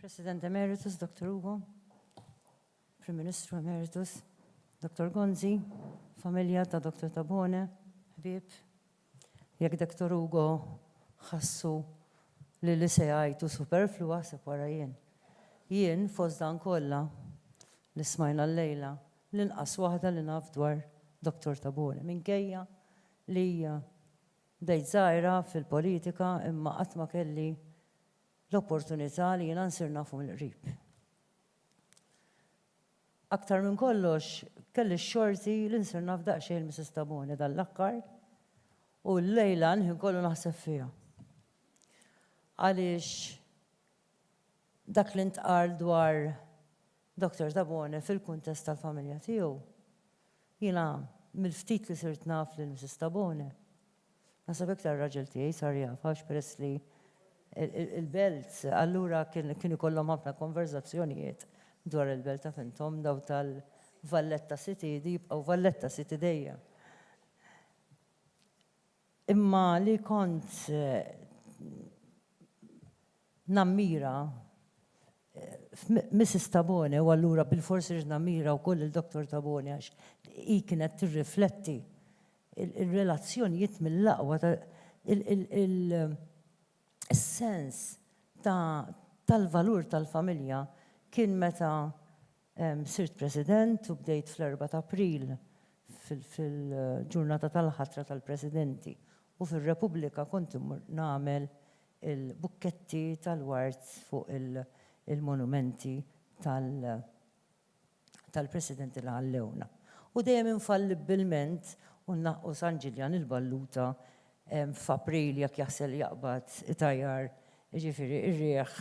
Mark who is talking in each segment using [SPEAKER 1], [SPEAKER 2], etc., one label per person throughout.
[SPEAKER 1] President Emeritus, Dr. Ugo, Prim Ministru Emeritus, Dr. Gonzi, familja ta' Dr. Tabone, ħbib, jekk Dr. Ugo ħassu li li se jgħajtu superflua se wara jien. Jien fost dan kollha li smajna l-lejla L-inqas waħda li naf dwar Dottor Tabone, minkejja li bdejt żgħira fil-politika imma qatt ma kelli l-opportunità li jiena nsir nafu mill-qrib. Aktar minn kollox, kelli x-xorti li nsir naf daqsxejn lil Missis Tabone dan l-aħkar u llejla l-ħin kollu naħseb fiha. Għaliex dak li ntqal dwar Doctor Tabone fil-kuntest tal-familja tiegħu, Jiena mill-ftit li sirt naf lil Mrs. Tabone, naħseb iktar ir-raġel tiegħi sar jafha għax peress li l-belt, allura kien ikollhom ħafna konverżazzjonijiet dwar il-belt taf intom dawn tal-Valletta City jibqgħu Valletta City dejjem. Imma li kont nammira Missis Tabone u allura bilfors ridt nammira wkoll lil Dottor Tabone għax hi kienet tirrifletti l-relazzjonijiet mill-aqwa ta' is-sens tal-valur tal-familja kien meta Sirt President u bdejt fl-Erbgħa ta' April fil-ġurnata tal-ħatra tal-Presidenti u fir-Repubblika kont immur nagħmel il-bukketti tal-ward fuq il-monumenti tal-Presidenti li ħallewna. U dejjem infallibbilment u nnaqqu San Ġiljan il-Balluta f'April jekk jaħsel jaqbad it-tajjar, jiġifieri r-riħ,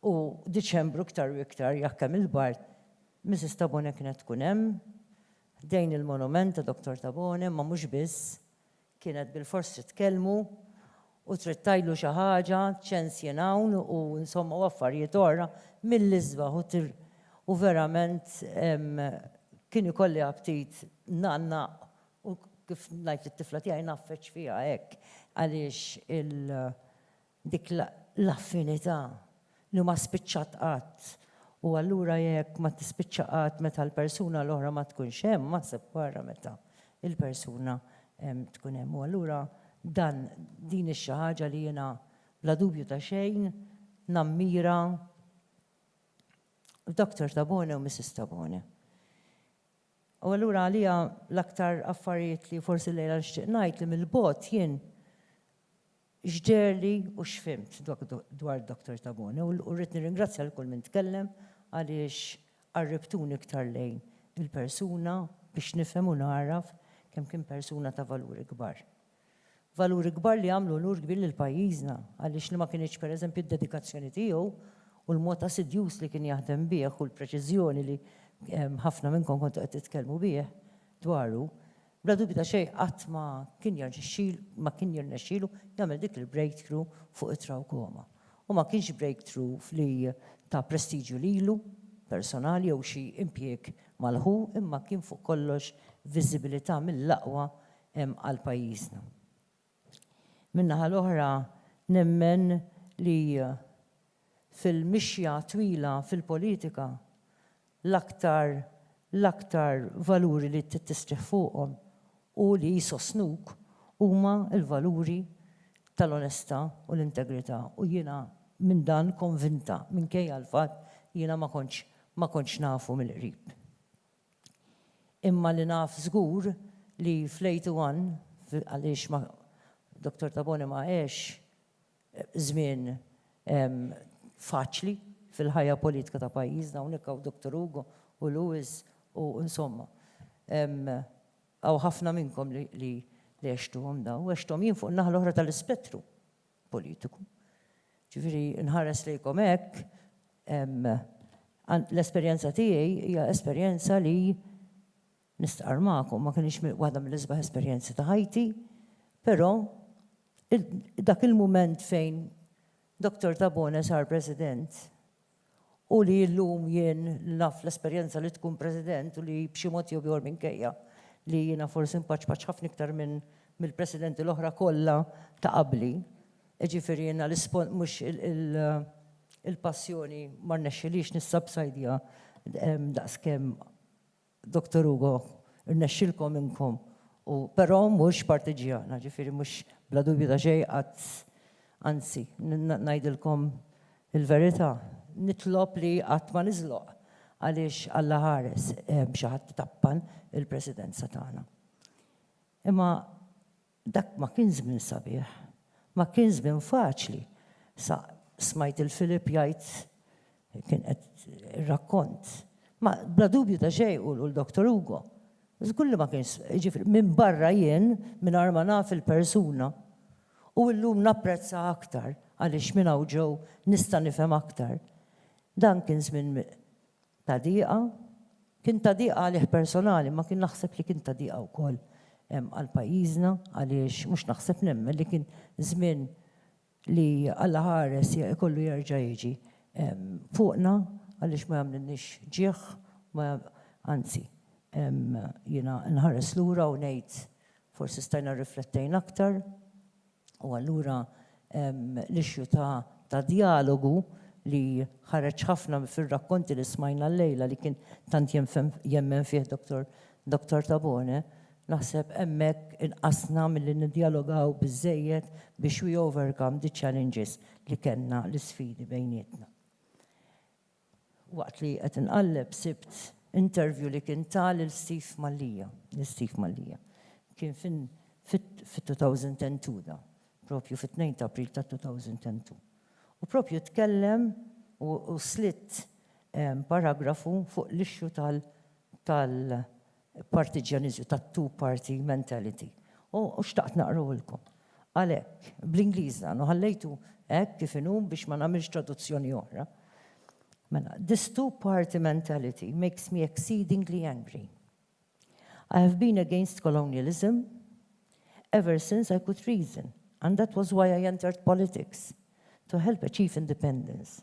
[SPEAKER 1] u Diċembru iktar u iktar jekk hemm il-bard. Misis Tabone kienet tkun hemm, ħdejn il-monument ta' Dottor Tabone, imma mhux biss, kienet bilfors trid tkellmu u trid tgħidlu xi ħaġa, ċens jien hawn u insomma u affarijiet oħra mill-isbaħ u tir u verament kien ikolli aptit ngħannaq U kif ngħid lit-tifla tiegħi ngħaffeġ fiha hekk għaliex il dik l-affinità li ma spiċċat qatt. U allura jekk ma tispiċċa qatt meta l-persuna l-oħra ma tkunx hemm, aħseb wara meta l-persuna tkun hemm. U allura dan din hi xi ħaġa li jiena bla dubju ta' xejn nammira f'Doktor Tabone u Missis Tabone. U allura għalija l-aktar affarijiet li forsi llejla nixtieq ngħid li mill-bogħod jien x'deherli u x'fhimt dwar Dr. Tabone u rrid nirringrazzja lil kull min tkellem għaliex qarribtuni iktar lejn il-persuna biex nifhem u nagħraf kemm kien persuna ta' valuri kbar. Valuri kbar li għamlu unur kbir lil pajjiżna, għaliex li ma kinitx pereżempju d-dedikazzjoni tiegħu u l-mod assidjuż li kien jaħdem bih u l-preċiżjoni li ħafna minnkom kontu qed titkellmu bih dwaru, bla dubju ta' xejn qatt ma kien ma kien jirnexxielu jagħmel dik il-breakthrough fuq it-trawkoma. U ma kienx breakthrough li ta prestiġju lilu personali jew xi impjieg mal-ħu imma kien fuq kollox viżibilità mill-aqwa hemm għal pajjiżna. Min-naħa l-oħra nemmen li fil-mixja twila fil-politika l-aktar l-aktar valuri li trid tistrieħ fuqhom u li jsostnuk huma l-valuri tal-onestà u l-integrità u jiena minn dan konvinta minkejja l-fatt li jiena ma kontx ma kontx nafu mill-qrib. Imma li naf żgur li fl-81, għaliex ma, Dottor Tabone ma għex żmien faċli fil-ħajja politika ta' pajjiżna, hawnhekk hawn Dottor Ugo u Louis u insomma, hawn ħafna minnkom li għextuhom dawn, għexthom jien fuq in-naħa l-oħra tal-ispettru. politiku. Ġifieri nħares lejkom hekk, l-esperjenza tiegħi hija esperjenza li nistqarr magħkom ma kinitx waħda mill-isbaħ esperjenzi ta' ħajti, però dak il-mument fejn Dottor Tabone sar President u li illum jien naf l-esperjenza li tkun President u li b'xi mod jew ieħor minkejja li jiena forsi npaċpaċ ħafna iktar minn mill-Presidenti l-oħra kollha ta' qabli, jiġifieri jiena l-ispon mhux il-passjoni ma rnexxilix nissabsajdja daqskemm Doctor Ugo, irnexxilkom inkom u però mhux partiġġjana, ġifieri mhux bla dubju ta' xejn qatt anzi, ngħidilkom il-verità, nitlob li qatt ma niżloq għaliex Alla ħares xi ħadd tappan il-Presidenza tagħna. Imma Dak ma kien żmien sabiħ. Ma kien żmien faċli. Sa smajt 'il Philip jgħid, kien qed ir-rakkont. Ma bla dubju ta' xejn u l-Doctor Ugo. Żgur li ma kienx, jiġifieri minbarra jien, mingħajr ma naf il-persuna. U illum napprezza aktar għaliex minn hawn ġew nista' nifhem aktar. Dan kien żmien Ta' diqa. Kien ta' diqa għalih personali imma kien naħseb li kien ta' diqa wkoll għal pajjiżna għaliex mhux naħseb nemmen li kien żmien li Alla ħares ikollu jerġa' jiġi fuqna għaliex ma jagħmlilniex ġieħ ma anzi jiena nħares lura u ngħid forsi stajna rriflettejna aktar. U allura l-issue ta' djalogu li ħareġ ħafna fir-rakkonti li smajna llejla li kien tant jemmen fih Dottor Tabone, naħseb hemmhekk inqasna milli niddjalogaw biżżejjed biex we overcome the challenges li kellna, l-isfidi bejnietna. Waqt li qed inqalleb sibt interview li kien ta lil Steve Mallia, lil Steve Mallia. Kien fin fit-2002 da, propju fit-tnejn ta' April tat-2002. U propju tkellem u slitt paragrafu fuq l-issue tal tal partiġġjaniżmu, tat-two-party mentality. U xtaqt naqrahulkom. Għalhekk, bl-Ingliż dan, u ħallejtu hekk kif inhu biex ma nagħmilx traduzzjoni oħra. Mela, this two-party mentality makes me exceedingly angry. I have been against colonialism ever since I could reason, and that was why I entered politics, to help achieve independence.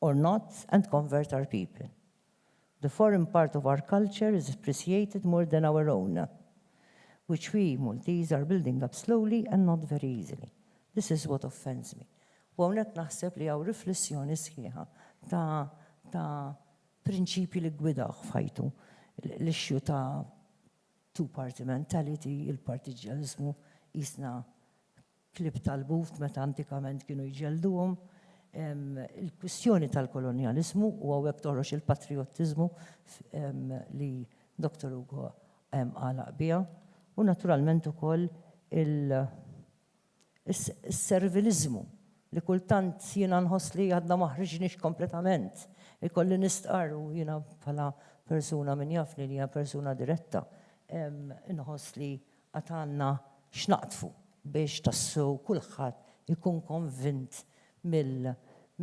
[SPEAKER 1] or not and convert our people. The foreign part of our culture is appreciated more than our own, which we Maltese are building up slowly and not very easily. This is what offends me. U hawnhekk naħseb li hawn riflessjoni sħiħa ta' ta' prinċipji li ggwidawh f'ħajtu. L-issue ta' two party mentality, il-partiġġjaniżmu qisna klieb tal-buf meta antikament kienu jġellduhom. Il-kwistjoni tal-kolonjaliżmu, u hawnhekk toħroġ il-patrijottiżmu li Doctor Hugo għalaq biha, u naturalment ukoll is-serviliżmu li kultant jiena nħoss li għadna ma ħriġniex kompletament. Ikolli nistqarr, u jiena bħala persuna min jafni li jiena persuna diretta, inħoss li Għad għandna x'naqdfu biex tassew kulħadd ikun konvint mill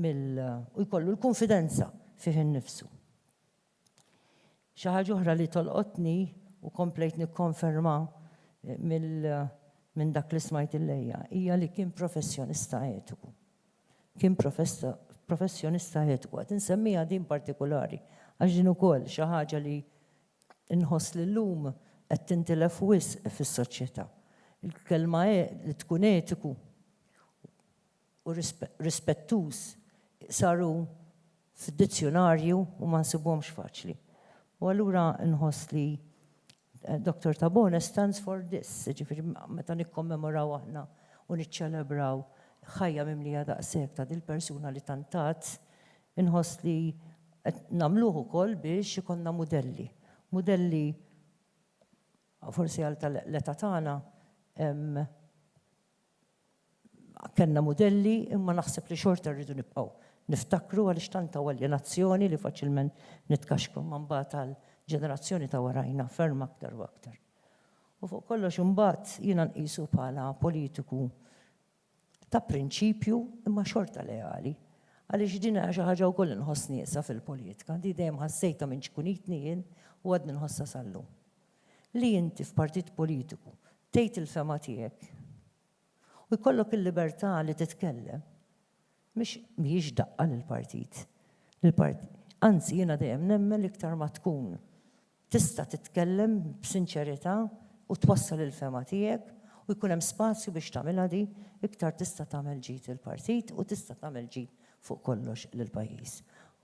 [SPEAKER 1] mill u jkollu l-kunfidenza fih innifsu. Xi ħaġa oħra li tolqotni u komplejt nikkonferma mill minn dak li smajt illejja hija li kien professjonista etiku. Kien professjonista etiku. Qed insemmiha din partikulari għax din ukoll xi ħaġa li Inħoss li llum qed tintilef wisq fis-soċjetà. Il-kelma li tkun etiku u rispettuż saru f'dizzjunarju u ma nsibuhomx faċli. U allura nħoss li Doctor Tabone stands for this, jiġifieri meta nikkommemoraw aħna u niċċelebraw ħajja mimlija daqshekk ta' dil-persuna li tant tat, Inħoss li qed nagħmluh ukoll biex ikollna mudelli. Mudelli forsi għal tal-età tagħna kellna mudelli imma naħseb li xorta rridu nibqgħu niftakru għaliex tant hawn aljenazzjoni li faċilment nitkaxkru imma mbagħad għall-ġenerazzjoni ta' warajna ferm aktar u aktar. U fuq kollox imbagħad jiena nqisu bħala politiku ta' prinċipju imma xorta leali għaliex din hija xi ħaġa wkoll li nħoss nieqsa fil-politika, di dejjem ħassejtha minn ċkunitni jien u għadni nħossha sal-lum. Li inti f'partit politiku tgħid il-fehma tiegħek u jkollok il-libertà li titkellem mhix mhijiex daqqa lill-partit. Anzi jiena dejjem nemmen li iktar ma tkun tista' titkellem b'sinċerità u twassal il-fehma tiegħek u jkun hemm spazju biex tagħmilha di, iktar tista' tagħmel ġid lill-partit u tista' tagħmel ġid fuq kollox lill-pajjiż.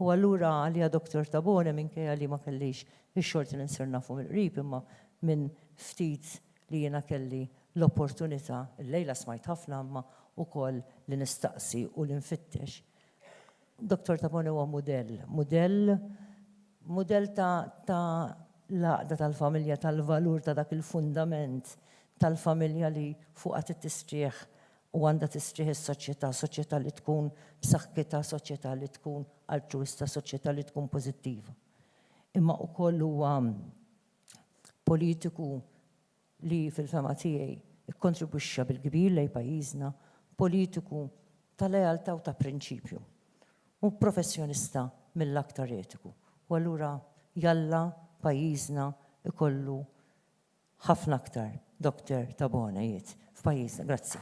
[SPEAKER 1] U allura għalija Dottor Tabone minkejja li ma kellix ix-xorti li nsir nafu mill-qrib imma minn ftit li jiena kelli l-opportunità, illejla smajt ħafna imma ukoll li nistaqsi u li nfittex, Dottor Tabone huwa mudell, mudell mudell ta' ta' l-għaqda tal-familja, tal-valur ta' dak il-fundament tal-familja li fuqha trid tistrieħ u għandha tistrieħ is-soċjetà, soċjetà li tkun b'saħħitha, soċjetà li tkun altruwista, soċjetà li tkun pożittiva. Imma wkoll huwa politiku li fil-fehma tiegħi kkontribwixxa bil-kbir lejn pajjiżna, politiku ta' lealtà u ta' prinċipju, u professjonista mill-aktar etiku. U allura jalla pajjiżna jkollu ħafna aktar Doctor Tabone, jgħid, f'pajjiżna. Grazzi.